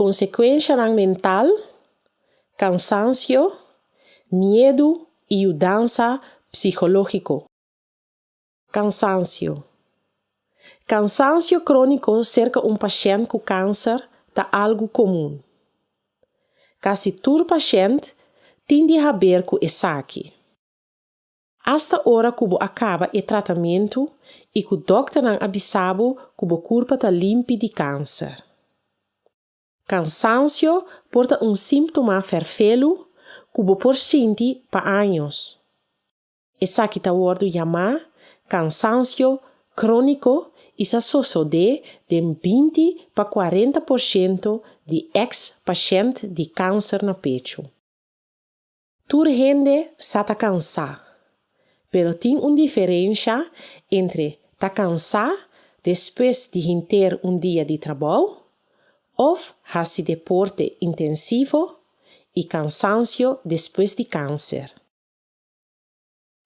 Konsekuenshanan mental, kansansio, miedu i yudansa psikológiko. Kansansio. Kansansio króniko serka un pashènt ku kanser ta algu komun. Kasi tur pashènt tin di haber ku esaki. Asta ora ku bo a kaba e tratamentu i ku dòkternan a bisa bo ku bo kurpa ta limpi di kanser. Kansansio por ta un símtoma ferfelu ku bo por sinti pa años. Esaki ta wòrdu yamá kansansio króniko i sa sosodé den binti pa kuarenta por shento di eks-pashènt di kanser na pechu. Tur hende sa ta kansá, pero tin un diferensha entre ta kansá despues di hinter un dia di trabou òf hasi deporte intensivo i kansansio despues di kanser.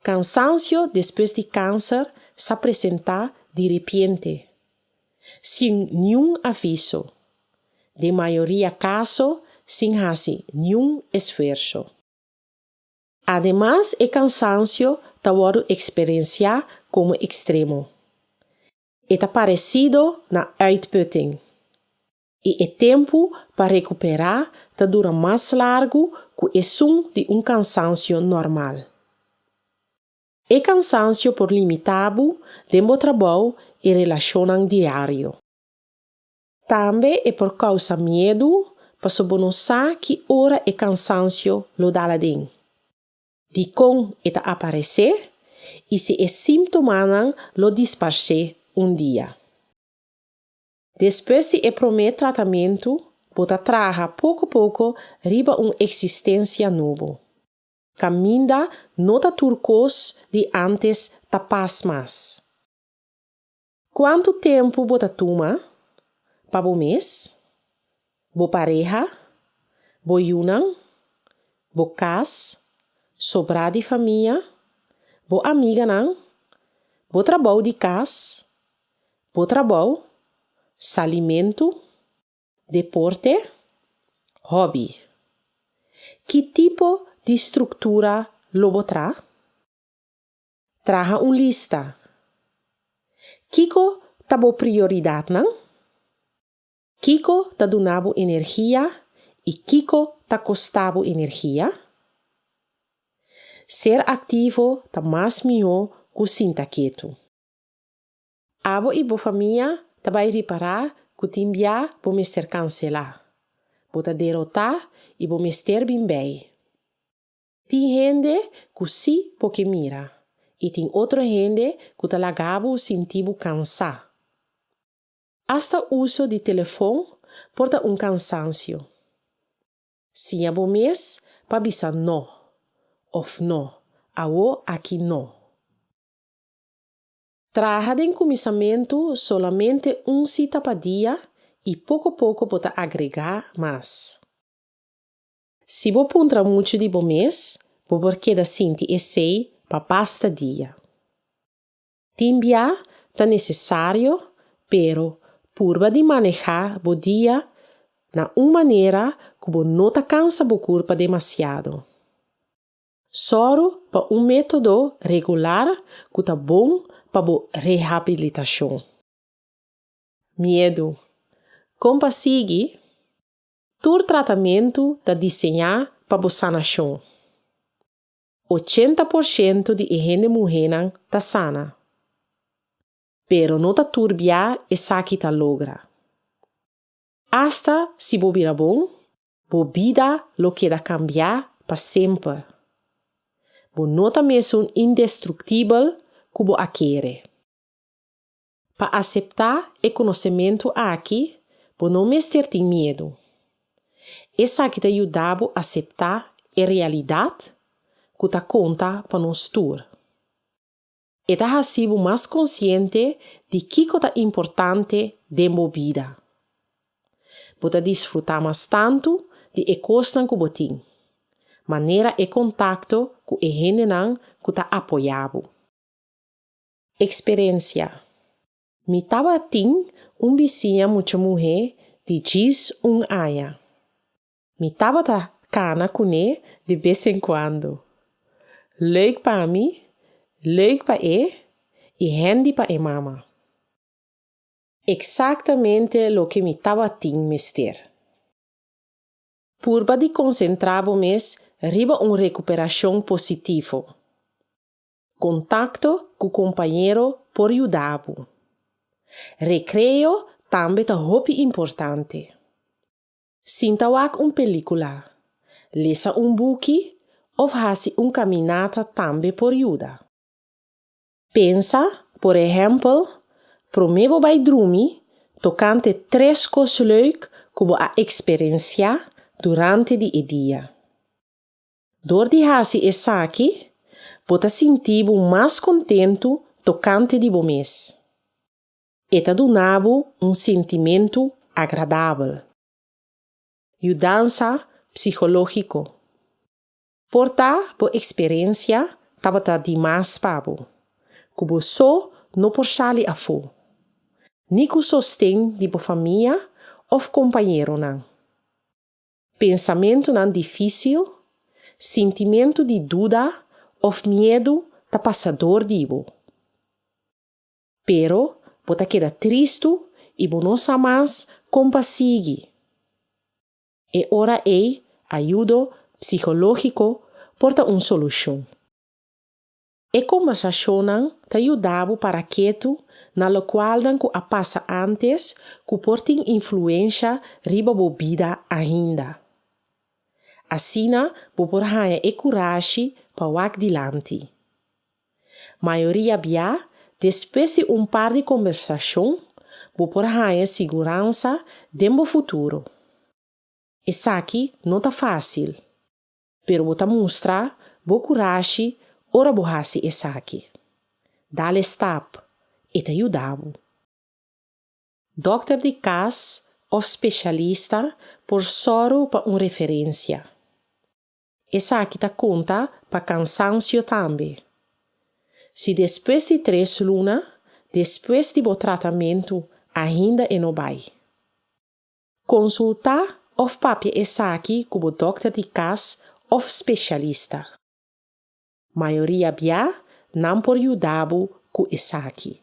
Cansancio despues di cancer sa presenta di repiente, sin niun aviso, den mayoria caso sin haci niun esfuerso. Ademas e cansancio ta wordo experiencia como extremo. E ta parecido na uitputting. i e tempu pa rekuperá ta dura mas largu ku esun di un kansansio normal. E kansansio por limitá bo den bo trabou i relashonnan diario. Tambe e por kousa miedu pasobra bo no sa ki ora e kansansio lo dal aden, dikon e ta aparesé i si e símtomanan lo disparsé un dia. Despues di e promé tratamentu, bo ta traha poko poko riba un eksistensia nobo. Kaminda no ta tur kos di ántes ta pas mas. Kuantu tempu bo ta tuma pa bo mes? Bo pareha, bo yunan, bo cas, sobrá di famia, bo amiganan, bo trabou di cas, bo trabou, salimentu, deporte, hobby. Ki tipo di struktura lo bo tra? Traha un lista. Kiko ta bo prioridatnan? Kiko ta duna bo energia i kiko ta kosta bo energia? Ser aktivo ta mas mihó ku sinta ketu. Abo i bo famia ta bai ripará ku tin bia bo mester kanselá, bo ta derotá i bo mester bin bei. Tin hende ku sí bo ke mira i tin otro hende ku ta laga bo sinti bo kansá. Asta uso di telefon por ta un kansansio. Siña bo mes pa bisa no òf no, awó, aki no. Traha den kuminsamentu solamente un sita pa dia i poko poko bo ta agregá mas. Si bo puntra muchu di bo mes, bo por keda sinti esei pa basta dia. Tin bia ta nesesario, pero purba di maneha bo dia na un manera ku bo no ta kansa bo kurpa demasiado. Sòru pa un método regular ku ta bon pa bo rehabilitashon. Miedu. Kon pa sigui? Tur tratamentu ta diseñá pa bo sanashon. Ochenta por shentu di e hende muhénan ta sana. Pero no ta tur bia esaki ta logra. Asta si bo bira bon, bo bida lo keda kambiá pa semper. Bo no ta mesun indestruktibel ku bo a kere. Pa aseptá e konosementu aki, bo no mester tin miedu. Esaki ta yuda bo aseptá e realidat ku ta konta pa nos tur. E ta hasi bo mas konsiente di kiko ta importante den bo bida. Bo ta disfrutá mas tantu di e kosnan ku bo tin, manera e kontakto ku e hendenan ku ta apoyá bo. Experencia, Mi tabatin un bisiña mucha muhe di djis un aña. Mi tabata cana cune di bes en cuando. Leuk pa mi, leuk pa e y hendi pa e mama. Exactamente loke mi tabatin mester. Purba di konsentrá bo mes riba un rekuperashon positivo. Kontakto ku kompañero por yuda bo. Rekreo tambe ta hopi importante. Sinta wak un pelíkula, lesa un buki òf hasi un kaminata tambe por yuda. Pensa, por ehèmpel, promé bo bai drumi, tokante tres kos leuk ku bo a eksperensiá durante di e dia. Dor di hasi esaki, bo ta sinti bo mas kontentu tokante di bo mes. E ta duna bo un sentimentu agradabel. Yudansa psikológiko. Por ta bo eksperensia tabata di mas pa bo, ku bo so no por sali afó, ni ku sosten di bo famia òf kompañeronan. Pensamentunan difísil, sintimentu di duda òf miedu ta pasa dor di bo. Pero, bo ta keda tristu i bo no sa mas kon pa sigui. E ora ei, ayudo psihológiko por ta un solushon. E kombersashonnan ta yuda bo para ketu na lokualnan ku a pasa ántes ku por tin influensha riba bo bida ainda. Asina bo por haña e kurashi pa wak dilanti. Mayoria bia, despues di un par di kombersacion, bo por haña siguransa den bo futuro. Esaki no ta fácil, pero bo ta mustra bo kurashi ora bo hasi esaki. Dal e stap, e ta yuda bo. Dòkter di kas òf spesialista por sòru pa un referensia. Esaki ta konta pa kansansio tambe. Si despues di tres luna despues di bo tratamentu ainda e no bai. Konsultá òf papia esaki ku bo dòkter di kas òf spesialista. Mayoria bia nan por yuda bo ku esaki.